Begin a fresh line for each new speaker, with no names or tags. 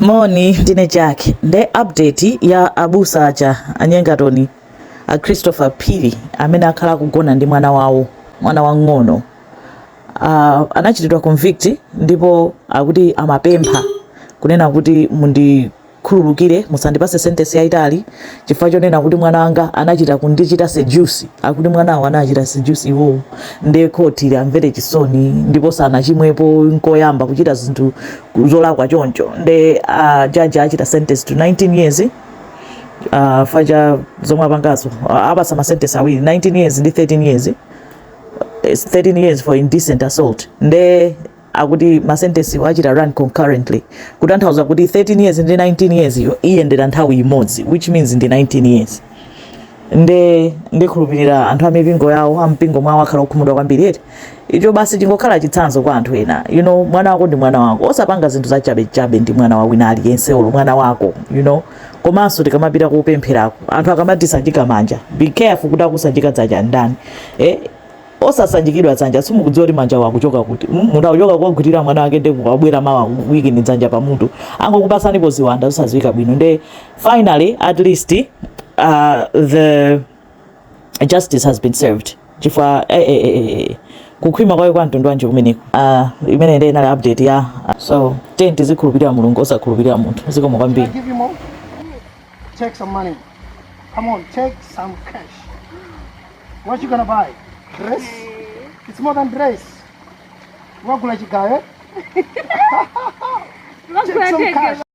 Moni, ndine Jack. Nde update ya abusa aja anyengatoni a Christopher Phiri amene akhala akugona ndi mwana wawo, mwana wang'ono. Uh, anachitidwa convict ndipo akuti amapempha kunena kuti mundi khululukire musandipase sentence yaitali chifukwa chonena kuti mwana wanga anachita kundichita seduce akuti mwanawo anachita seduce iwowo nde khoti liamvere chisoni ndipo sanachitepo nkoyamba kuchita zinthu zolakwa choncho nde a uh, jaji achita sentence to 19 years uh, faja zomwe apangazo uh, apasa masentence awiri 19 years ndi 13 years 13 uh, years for indecent assault nde akuti masentensiwo achita run concurrently kutanthauza kuti 13 years ndi 19 years yo iyendera nthawi imodzi which means ndi 19 years nde ndikhulupirira anthu amipingo yawo ampingo mwawo akhala okhumudwa kwambiri eti icho basi chingokhala chitsanzo kwa anthu ena you know mwana wako ndi mwana wako osapanga zinthu za chabe chabe ndi mwana wa wina aliyense olo mwana wako you know komanso tikamapita kopempherako anthu akamatisanjika manja be careful kuti akusanjika dzanja ndani eh osasanjikidwa dzanja simukudziwa kuti manja wakuchoka kuti mm, munthu akuchoka kogwirira mwana wake ndi kubwera mawa akuikeni dzanja pamutu angokupatsanipo ziwanda zosaziwika bwino nde finally at least uh, the justice has been served chifukwa eh, eh, eh, eh, eh. kukhwima kwake kwa mtundu wanji kumeneko uh, imeneyo ndi inali update ya uh, so tiyeni tizikhulupirira mulungu osakhulupirira munthu zikomo kwambiri give you more take some money come on take some cash what you gonna buy dress it's more than dress wagula chigayo take some cash